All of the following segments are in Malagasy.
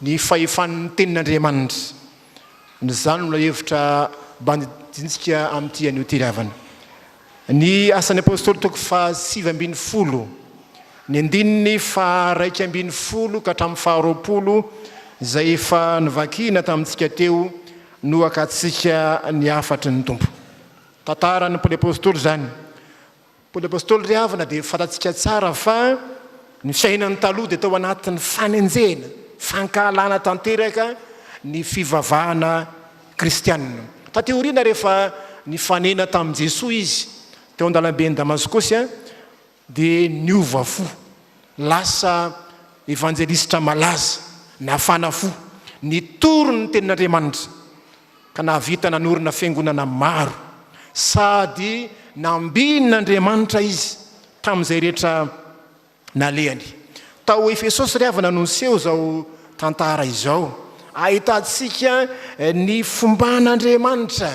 Ny fahefan' ny tenin' Andriamanitra. Izany no lohahevitra bandidintsika amin' ity anio ity ry havana. Ny Asan' ny Apôstôly toko fahasivy ambin'ny folo, ny andininy faharaika ambin'ny folo ka hatramin'ny faharoapolo, izay efa novakina tamintsika teo, no hakatsika ny hafatry ny Tompo. Tantaran' ny Paoly Apôstôly izany. Paoly Apostoly ry havana dia fantatsika tsara fa ny fiainany taloha dia tao anatin'ny fanenjehana, fankahalana tanteraka ny fivavahana kristianina. Taty aoriana rehefa nifanena tamin'i Jesoa izy teo an-dalamben'i Damaskosy dia niova fo, lasa evanjelisitra malaza, nafana fo, nitory ny tenin'Andriamanitra. ka nahavita nanorina fiangonana maro sady nambinin'Andriamanitra izy tamin'izay rehetra nalehany. Tao Efesosy ry havana no niseho izao tantara izao ahitantsika ny fomban'Andriamanitra,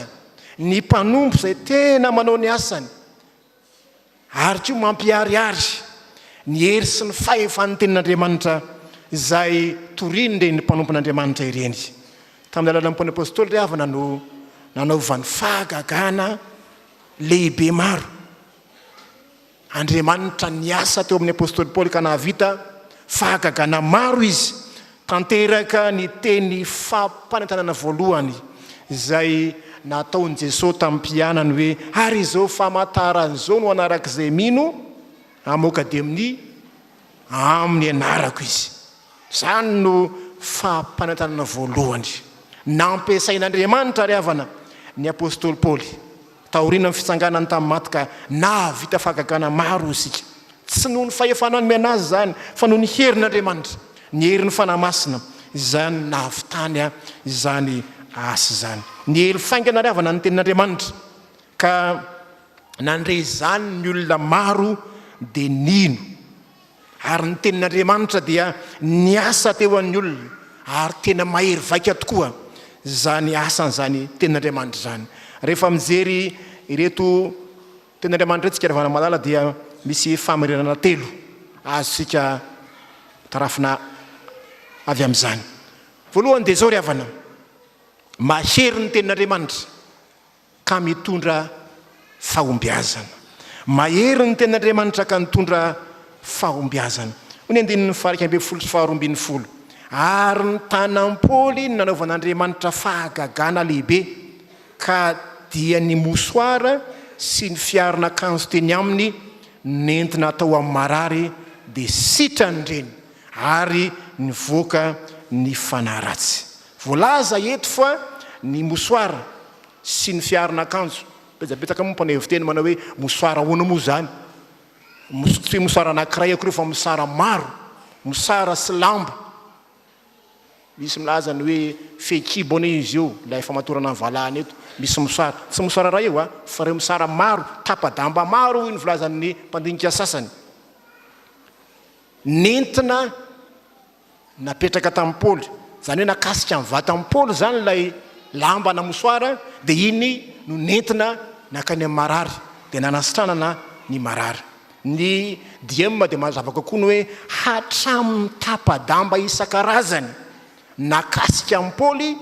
ny mpanompo izay tena manao ny asany. ary koa mampiharihary ny hery sy ny fahefan'ny Tenin'Andriamanitra izay torian'ireny mpanompon'Andriamanitra ireny. Tamin'ny alalan'ny Paoly Apostoly ry havana no nanaovany fahagagana lehibe maro Andriamanitra niasa teo amin'ny Apostoly Paoly ka nahavita fahagagana maro izy Tanteraka ny teny fampanentanana voalohany izay nataon'i Jesoa tamin'ny mpianany hoe, Ary izao famantarana izao no hanaraka izay mino amoka demonia amin'ny anarako izy. Izany no fampanentanana voalohany nampiasain'Andriamanitra ry havana ny apostoly Paoly. Taorian'ny fitsanganany tamin'ny maty ka nahavita fahagagana maro isika. Tsy noho ny fahefana nomena azy izany fa noho ny herin'Andriamanitra, ny herin'ny Fanahy Masina izay no nahavitany izany asa izany. Niely faingana ary avana ny tenin'Andriamanitra ka nandre izany ny olona maro dia nino. Ary ny tenin'Andriamanitra dia niasa teo amin'ny olona, ary tena mahery vaika tokoa izany asan'izany tenin'Andriamanitra izany. Rehefa mijery ireto tenin'Andriamanitra ireto isika ry vanamalala dia misy fahamarinana telo azontsika tarafina avy amin'izany. Voalohany dia izao ry havana, mahery ny tenin'Andriamanitra, ka mitondra fahombiazana. Mahery ny Tenin'Andriamanitra ka nitondra fahombiazana. Hoy ny andininy faha-iraika ambin'ny folo sy faharoa ambin'ny folo, Ary nitana am-poly ny nanaovan'Andriamanitra fahagagana lehibe, ka dia ny mosoara sy ny fiaron'akanjo teny aminy nentina hatao amin'ny marary dia sitrany ireny, ary nivoaka ny fanahy ratsy. Voalaza eto fa ny mosoara sy ny fiaron'akanjo, betsabetsaka moa ny mpanao hevi-teny manao hoe mosoara ahoana moa izany? Tsy hoe mosoara anankiray akory io fa mosara maro, mosara sy lamba, misy milaza ny hoe fehikibo anie izy io, ilay famatorana ny valahana eto, misy mosara, tsy mosara iray io a, fa ireo mosara maro, tapa-damba maro hoy ny filazan'ny mpandinika sasany, nentina. napetraka tamin'i Paoly, izany hoe nakasika ny vatan'i Paoly izany ilay lamba na mosoara, dia iny no nentina nankany amin'ny marary, dia nanasitranana ny marary. Ny DM dia manazava kokoa ny hoe hatramin'ny tapa-damba isan-karazany nakasika an'i Paoly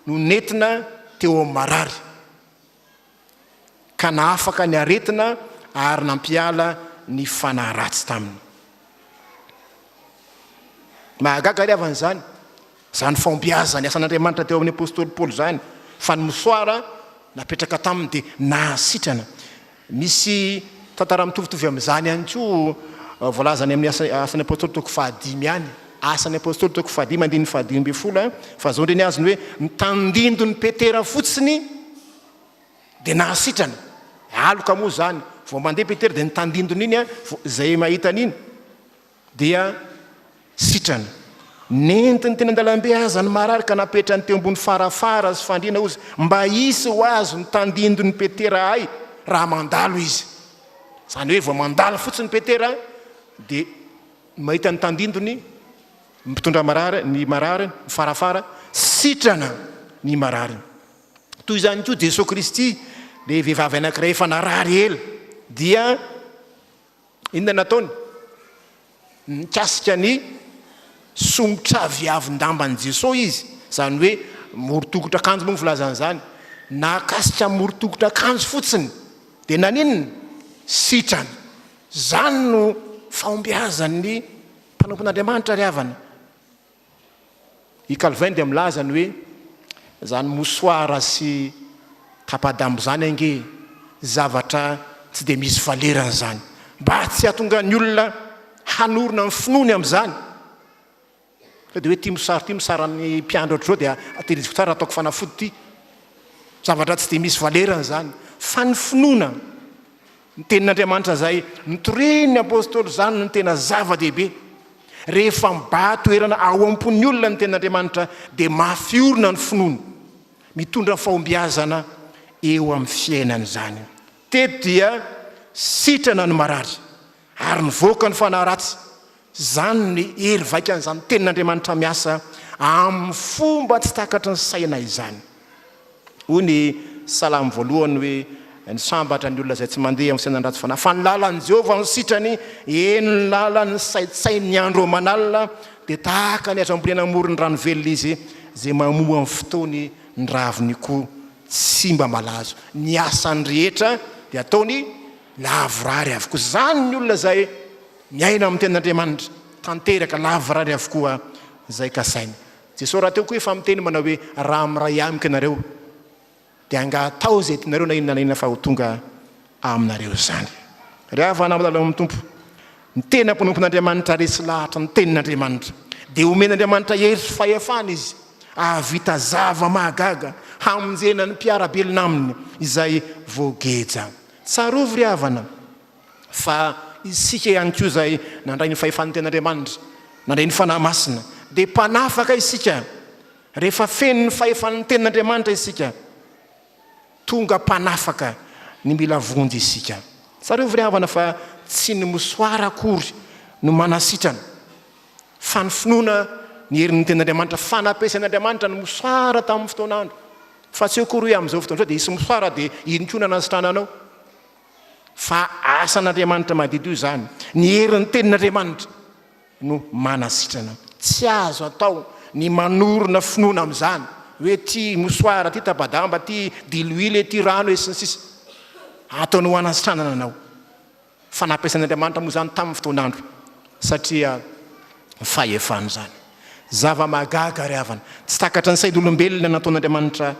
no nentina teo amin'ny marary. ka nahafaka ny aretina ary nampiala ny fanahy ratsy taminy. Mahagaga ary havana izany, izany fahombiazan'ny asan'Andriamanitra teo amin'ny apostoly Paoly izany, fa ny mosoara napetraka taminy dia nahasitrana. Misy tantara mitovitovy amin'izany ihany koa voalazany amin'ny asan'ny apostoly toko fahadimy any. Asan'ny Apostoly toko fahadimy andininy fahadimy ambin'ny folo fa zao ndre ny azony hoe ny tandindon'i Petera fotsiny dia nahasitrana. Aloka moa zany vao mandeha Petera dia ny tandindony iny vao izay mahita an'iny dia sitrana. Nentiny teny an-dalambe aza ny marary ka napetrany teo ambony farafara sy fandriana ozy mba hisy ho azo ny tandindon'i Petera hay raha mandalo izy. Zany hoe vao mandalo fotsiny Petera dia. Mahita ny tandindony ny mpitondra marary, ny marary, ny farafara, sitrana ny marary. Toy izany koa Jesoa Kristy, ilay vehivavy anankiray efa narary ela, dia inona nataony? Nikasika ny somotra viavin-damban'i Jesoa izy, izany hoe morotokotra akanjo moa ny filazana izany. Nakasika morotokotra akanjo fotsiny, dia naninona? Sitrana. Izany no fahombiazan'ny mpanompon'Andriamanitra ry havana. I Calvin dia milaza ny hoe, Izany mosoara sy tapa-damba izany ange zavatra tsy dia misy valerany izany. Mba tsy hahatonga ny olona hanorina ny finoany amin'izany. Sao dia hoe ity mosary ity mosary an'ny mpiandry ohatr'izao dia tehiriziko tsara ataoko fanafody ity. Zavatra tsy dia misy valerany izany. Fa ny finoana ny tenin'Andriamanitra izay notorian'ny apostoly izany no tena zava-dehibe. Rehefa mibaha toerana ao am-pon'ny olona ny tenin'Andriamanitra dia mafy orina ny finoany. Mitondra fahombiazana eo amin'ny fiainany izany. Teto dia sitrana ny marary ary nivoaka ny fanahy ratsy. Izany ny hery vaikan'izany Tenin'Andriamanitra miasa amin'ny fomba tsy takatry ny saina izany. Hoy ny Salamo voalohany hoe, Ny sambatra ny olona izay tsy mandeha amin'ny sainan-dratsy fanahy, fa ny lalan'i Jehovah no sitrany, eny, ny lalany saintsaininy andro aman'alina, dia tahaka ny azo ambolena amoron-drano velona izy, izay mamoa amin'ny fotoany ny raviny koa tsy mba malazo. Ny asany rehetra dia ataony lavorary avokoa. Izany ny olona izay. Miaina amin'ny tenin'Andriamanitra tanteraka lavorary avokoa izay kasainy. Jesosy rahateo koa efa miteny manao hoe, raha miray amiko ianareo, dia angaha atao izay tianareo na inona na inona fa ho tonga aminareo izany. Ry havana milalao amin'ny Tompo, ny tena mpanompon'Andriamanitra resy lahatra ny tenin'Andriamanitra. Dia omen'Andriamanitra hery sy fahefana izy hahavita zava-mahagaga hamonjena ny mpiara-belona aminy izay voageja. Tsarovy ry havana. fa isika ihany koa izay nandray ny fahefan'ny Tenin'Andriamanitra, nandray ny Fanahy Masina, dia mpanafaka isika. Rehefa feno ny fahefan'ny Tenin'Andriamanitra isika, tonga mpanafaka ny mila vonjy isika. Tsarovy ry havana fa tsy ny mosoara akory no manasitrana, fa ny finoana ny herin'ny Tenin'Andriamanitra, fa nampiasain'Andriamanitra ny mosoara tamin'ny fotoan'andro, fa tsy eo akory hoe amin'izao fotoana izao dia hisy mosoara dia iny koa no hanasitrananao. Fa asan'Andriamanitra madiodio izany. Ny herin'ny tenin'Andriamanitra no manasitrana. Tsy azo atao ny manorina finoana amin'izany, hoe ity mosoara, ity tapa-damba, ity diloilo, ity rano e, sy ny sisa Ataony ho hanasitranana anao. Fa nampiasan'Andriamanitra moa izany tamin'ny fotoan'andro, satria fahefany izany. Zava-mahagaga ry havana. Tsy takatry ny sain'olombelona nataon'Andriamanitra.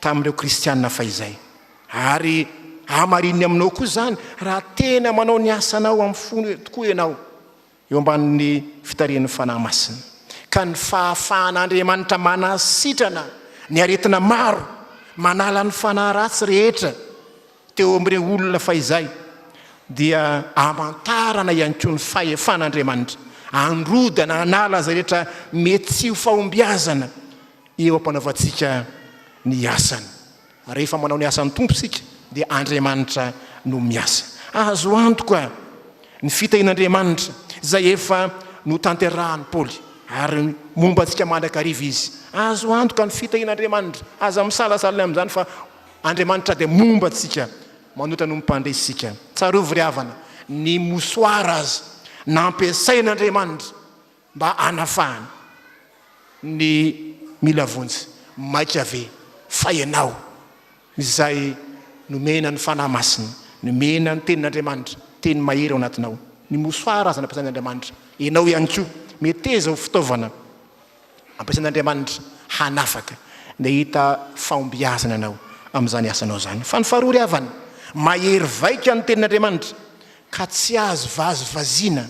tamin'ireo kristiana fahizay. Ary hamarininy aminao koa izany raha tena manao ny asanao amin'ny fo tokoa ianao eo ambanin'ny fitarihan'ny Fanahy Masina, ka ny fahafahan'Andriamanitra manasitrana ny aretina maro, manala ny fanahy ratsy rehetra teo amin'ireo olona fahizay, dia hamantarana ihany koa ny fahefan'Andriamanitra handrodana hanala izay rehetra mety tsy ho fahombiazana Eo am-panaovantsika ny asany. Rehefa manao ny asan'ny Tompo isika, dia Andriamanitra no miasa. Azo antoka ny fitahian'Andriamanitra izay efa notanterahin'i Paoly, ary momba antsika mandrakariva izy. Azo antoka ny fitahian'Andriamanitra. Aza misalasala amin'izany fa Andriamanitra dia momba antsika manoatra noho ny mpandresy isika. Tsarovy ry havana, ny mosoara aza nampiasain'Andriamanitra mba hanafahana ny mila vonjy maika ve fa ianao izay nomena ny Fanahy Masina nomena ny tenin'Andriamanitra teny mahery ao anatinao ny mosoara aza nampiasain'Andriamanitra ianao ihany koa meteza ho fitaovana ampiasain'Andriamanitra hanafaka ny hahita fahombiazana ianao amin'izany asanao izany fa ny faharoa ry havana mahery vaika ny tenin'Andriamanitra ka tsy azo vazivaziana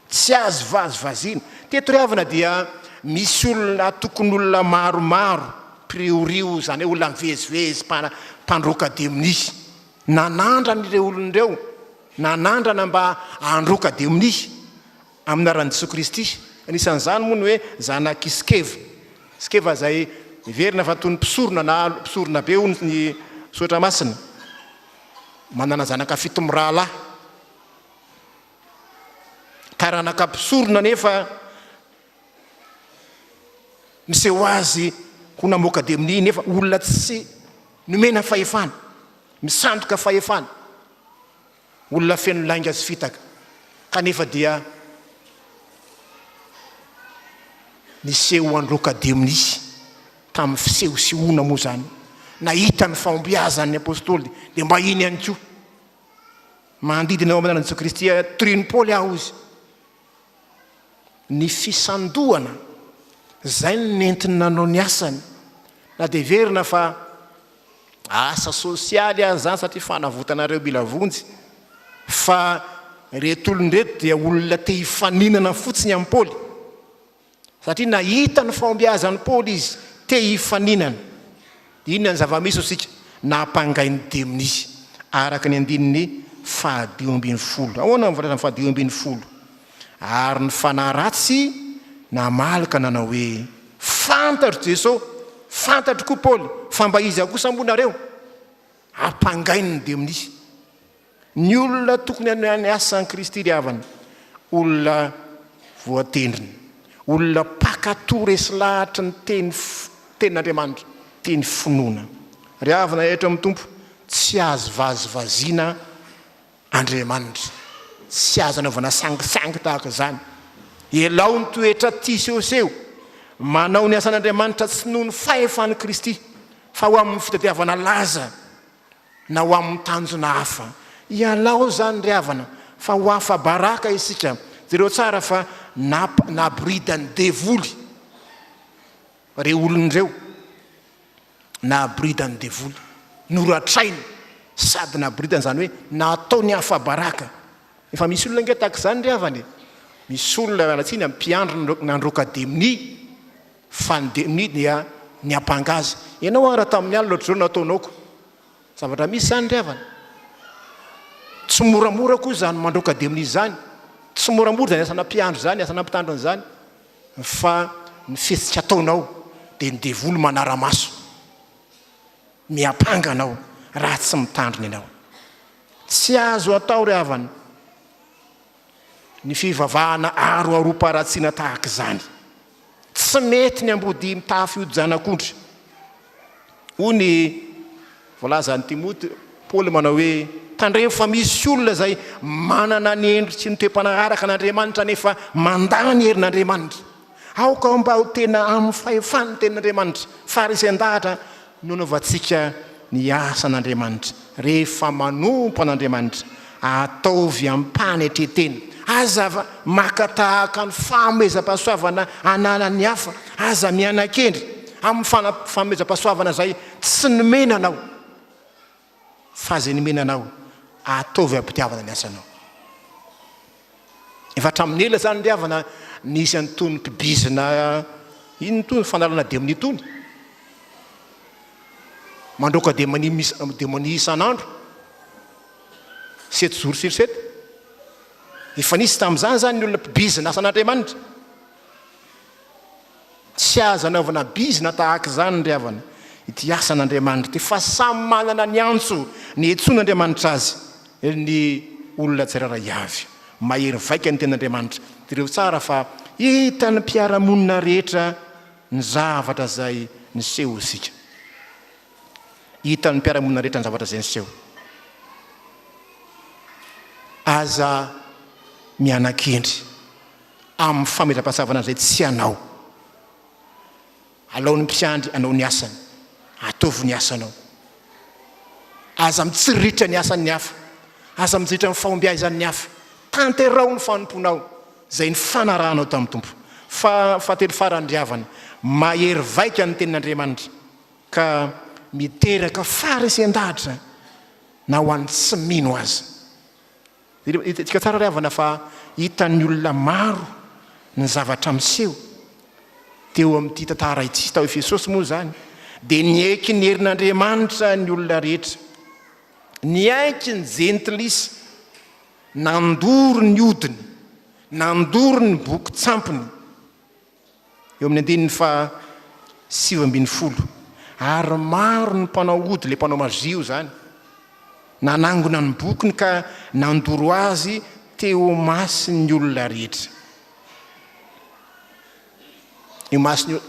Tsy azo vazivaziana. Teto ry havana dia misy olona atokon'olona maromaro, priorio, izany hoe olona mivezivezy, mpana, mpandroaka demonia. Nanandrana ireo olona ireo, nanandrana mba handroaka demonia amin'ny anaran'i Jesoa Kristy. Anisan'izany moa ny hoe zanak'i Skeva. Skeva izay miverina fa toy ny mpisorona na mpisorona be hoy ny soratra masina. Manana zanaka fito mirahalahy. Taranaka mpisorona anefa niseho azy ho namoaka demony nefa olona tsy nomena fahefana, misandoka fahefana, olona feno lainga sy fitaka, kanefa dia niseho androaka demony tamin'ny fisehosehoana moa izany. Nahita ny fahombiazan'ny apostoly dia mba iny ihany koa. Manodidina eo amin'ny anan'i Jesoa Kristy hatorian'i Paoly aho izy. Ny fisandohana, izay no nentiny nanao ny asany. Na dia heverina fa asa sosialy aza izany satria fanavotana ireo mila vonjy, fa ireto olona ireto dia olona te hifaninana fotsiny amin'i Paoly. Satria nahita ny fahombiazan'i Paoly izy, te hifaninana. Inona ny zava-misy hoy isika? Nampangain'ny demony izy, araka ny andininy fahadimy ambin'ny folo. Ahoana ny voalazan'ny fahadimy ambin'ny folo? Ary ny fanahy ratsy namaloka nanao hoe, Fantatro Jesosy, fantatro koa Paoly, fa mba iza kosa moa nareo? Ampangain'ny demony izy. Ny olona tokony hanao ny asan'i Kristy ry havana, olona voatendrina, olona mpankatò resy lahatry ny teny tenin'Andriamanitra, teny finoana. Ry havana eto amin'ny Tompo, tsy azo vazivaziana Andriamanitra, tsy azo anaovana sangisangy tahaka izany. Elao ny toetra tia sehoseho, manao ny asan'Andriamanitra tsy noho ny fahefan'i Kristy fa ho amin'ny fitadiavana laza na ho amin'ny tanjona hafa. Ialao izany ry havana fa ho afa-baraka isika. Jereo tsara fa naboridan'ny devoly ireo olona ireo, naboridan'ny devoly, noratrainy sady naboridany, izany hoe nataony afa-baraka. Efa misy olona ange tahaka izany ry havana e, misy olona miala tsiny amin'ny mpiandry nandroaka demony, Fandeminy an ny ampanga azy. Ianao an raha tamin'ny alina ohatr'izao no nataonao ko zavatra misy izany ry havana. Tsy moramora koa izany mandroaka demony izany. Tsy moramora izany asana mpiandry izany, asana mpitandrina izany fa ny fihetsika ataonao dia ny devoly manara-maso. Miampanga anao raha tsy mitandrina ianao. Tsy azo atao ry havana ny fivavahana aroaroam-paharatsiana tahaka izany. Tsy mety ny ambodia mitafy hodi-janak'ondry. Hoy ny voalazan'i Timoty, Paoly manao hoe, Tandremo fa misy olona izay manana ny endry sy ny toe-panaraka an'Andriamanitra nefa mandà ny herin'Andriamanitra. Aoka mba ho tena amin'ny fahefan'ny tenin'Andriamanitra, farisen-dahatra Nanaovantsika ny asan'Andriamanitra. Rehefa manompo an'Andriamanitra, ataovy amim-panetren-tena. Aza maka tahaka ny fanomezam-pahasoavana ananan'ny hafa. Aza miana-kendry amin'ny fanomezam-pahasoavana izay tsy nomena anao. Fa izay nomena anao, ataovy amim-pitiavana ny asanao. Efa hatramin'ny ela izany ry havana nisy an'itony mpibizina inona itony, fanalana demony itony. Mandroaka demony demony isan'andro, sept jours sur sept. Efa nisy tamin'izany izany ny olona mpibizina asan'Andriamanitra. Tsy azo anaovana bizina tahaka izany ry havana ity asan'Andriamanitra ity fa samy manana ny antso niantsoan'Andriamanitra azy ny olona tsirairay avy. Mahery vaika ny tenin'Andriamanitra. Jereo tsara fa hitan'ny mpiara-monina rehetra ny zavatra izay niseho isika. Hitan'ny mpiara-monina rehetra ny zavatra izay niseho. Aza miana-kendry. amin'ny famelan-pahatsavana izay tsy anao. Alaon'ny mpiandry anao ny asany, ataovy ny asanao. Aza mitsiriritra ny asan'ny hafa, aza mijeritra ny fahombiazan'ny hafa. Tanteraho ny fanompoanao, izay nifanarahanao tamin'ny Tompo. Fa, fahatelo farany, ry havana, mahery vaika ny tenin'Andriamanitra, ka miteraka faharesen-dahatra na ho an'ny tsy mino aza. Hitantsika tsara ry havana fa hitan'ny olona maro ny zavatra miseho teo amin'ity tantara ity. Tao Efesosy moa izany dia niaiky ny herin'Andriamanitra ny olona rehetra. Niaiky ny jentilisa, nandoro ny odiny, nandoro ny boky tsampiny. eo amin'ny andininy faha sivy ambin'ny folo, ary maro ny mpanao ody le mpanao mazia o zany nanangona ny bokiny ka nandoro azy teo masin'ny olona rehetra eo masin'ny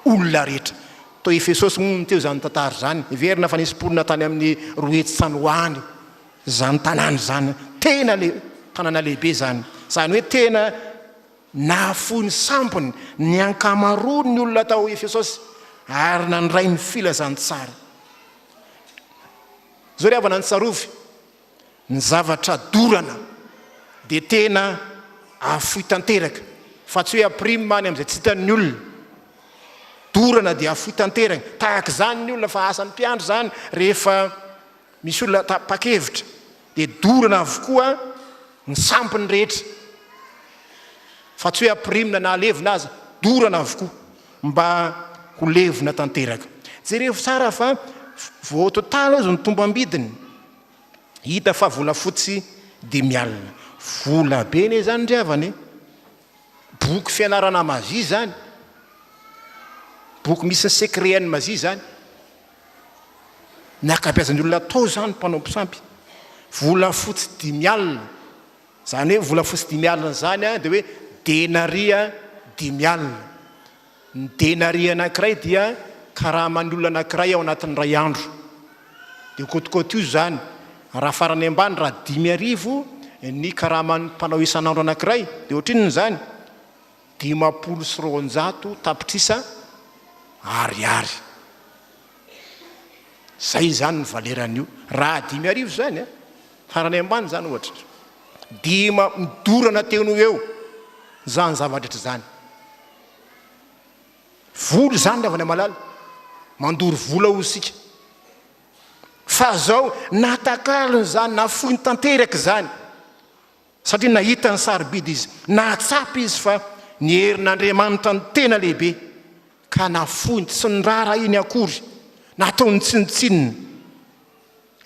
olona rehetra to efesosy moa ny teo zany tantara zany heverina fa nisy mponina tany amin'ny rohetsy tsanohany zany tanàna zany tena le tanàna lehibe zany zany hoe tena Nahafoy ny sambony ny ankamaroan'ny olona tao Efesosy ary nandray ny filazantsara. Izao ry havana, ny tsarovy, ny zavatra dorana dia tena afoy tanteraka, fa tsy hoe aprime any amin'izay tsy hitan'ny olona. Dorana dia afoy tanteraka, tahaka izany ny olona, fa asan'ny mpiandry izany rehefa misy olona tapa-kevitra. Dia dorana avokoa ny sampiny rehetra, fa tsy hoe ampirimina na alevina aza, dorana avokoa mba ho levona tanteraka. Jerevo tsara fa vao total aza ny tombam-bidiny, hita fa volafotsy dimy alina. Vola be anie izany ry havana e! Boky fianarana Mazy izany, boky misy ny secret-n'ny Mazy izany. Ny ankabeazan'ny olona atao izany mpanao mpisampy. Volafotsy dimy alina. Izany hoe volafotsy dimy alina izany dia hoe denaria dimy alina. Ny denaria anankiray dia karaman'ny olona anankiray ao anatin'ny iray andro. Dia kotikotiho izany, raha farany ambany raha dimy arivo ny karaman'ny mpanao isan'andro anankiray dia ohatrinona izany? dimampolo sy roanjato tapitrisa ariary. Izay izany ny valeran'io, raha dimy arivo izany an, farany ambany izany ohatra. Dima, midorana teo noho eo izany zava-drehetra izany. Vola izany ry havana malala, mandoro vola hoy isika. Fa izao, natakalony izany, nafoiny tanteraka izany. Satria nahita ny sarobidy izy, nahatsapa izy fa ny herin'Andriamanitra no tena lehibe, ka nafoiny, tsy noraharahiany akory, nataony tsinontsinona.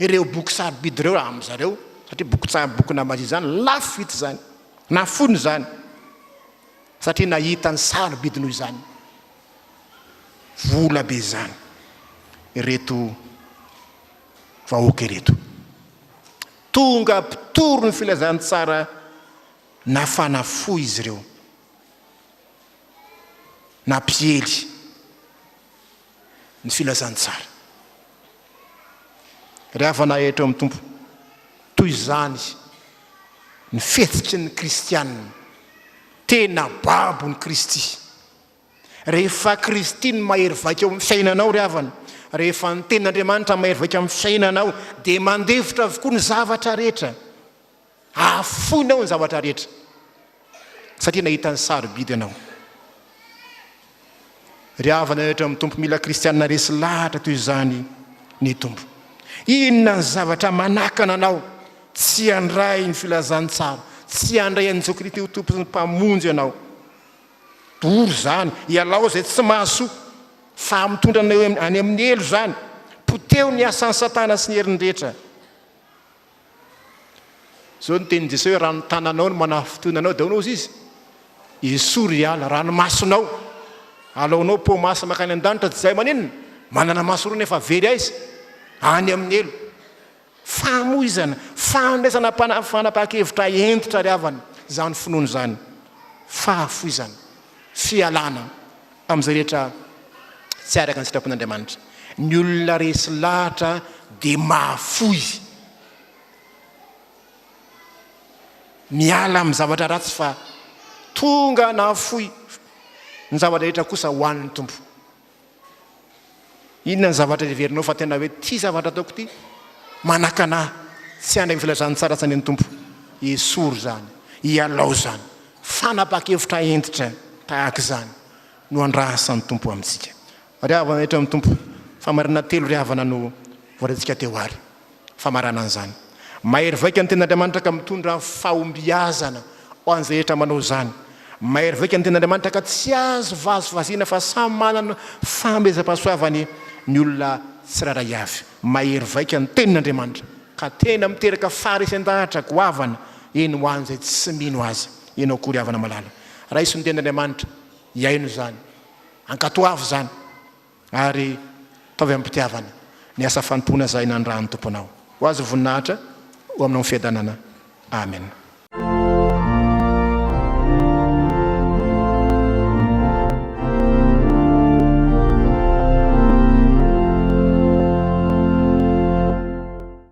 Ireo boky sarobidy ireo amin-dry zareo, satria boky tsara, boky namazia izany, lafo vidy izany. Nafoiny izany, satria nahita ny sarobidy noho izany. Vola be izany ireto vahoaka ireto. Tonga mpitory ny filazantsara nafana fo izy ireo, nampiely ny filazantsara. Ry havana eto amin'ny Tompo, toy izany ny fihetsiky ny kristiana tena babon'i Kristy Rehefa Kristy no mahery vaika ao amin'ny fiainanao ry havana, rehefa ny Tenin'Andriamanitra mahery vaika amin'ny fiainanao dia mandefitra avokoa ny zavatra rehetra. Ahafoinao ny zavatra rehetra satria nahita ny sarobidy ianao. Ry havana rehetra amin'ny Tompo mila Kristianina resy lahatra toy izany ny Tompo. Inona ny zavatra manakana anao tsy handray ny filazantsara, tsy handray an'i Jesoa Kristy ho Tompo sy Mpamonjy ianao? Doro izany, ialao izay tsy mahasoa, fa mitondra anao any amin'ny helo izany. Poteho ny asan'i Satana sy ny heriny rehetra. Izao ny tenin'i Jesoa hoe raha ny tananao no manafintohina anao dia aonaozy izy. Esory hiala, raha ny masonao alaonao pau masy makany an-danitra tsy izay maninona? Manana maso roa nefa very aiza? Any amin'ny helo. Famoizana, fandraisana fanapahan-kevitra hentitra ry havana izany finoana izany. Fahafoizana, fialana amin'izay rehetra tsy araka ny sitrapon'Andriamanitra. Ny olona resy lahatra dia mahafoy. Miala amin'ny zavatra ratsy fa tonga nahafoy ny zavatra rehetra kosa ho an'ny Tompo. Inona ny zavatra heverinao fa tena hoe ity zavatra ataoko ity? Manakana ahy tsy handray ny filazantsara tsy an'ny Tompo. Esory izany, ialao izany. Fanapahan-kevitra hentitra tahaka izany no andrasan'ny Tompo amintsika. Ry havana rehetra amin'ny Tompo, famarinana telo ry havana no voalazantsika teo àry. Famarana an'izany, mahery vaika ny tenin'Andriamanitra ka mitondra fahombiazana ho an'izay rehetra manao izany. Mahery vaika ny tenin'Andriamanitra ka tsy azo vazivaziana fa samy manana fanomezam-pahasoavany ny olona tsirairay avy. Mahery vaika ny tenin'Andriamanitra ka tena miteraka faharesen-dahatra goavana eny ho an'izay tsy mino aza. Ianao koa ry havana malala, raiso ny tenin'Andriamanitra, hihaino izany. Ankatoavo izany. Ary ataovy amim-pitiavana ny asa fanompoana izay nanirahan'ny Tompo anao. Ho Azy ny voninahitra, ho Aminao ny fiadanana. Amena.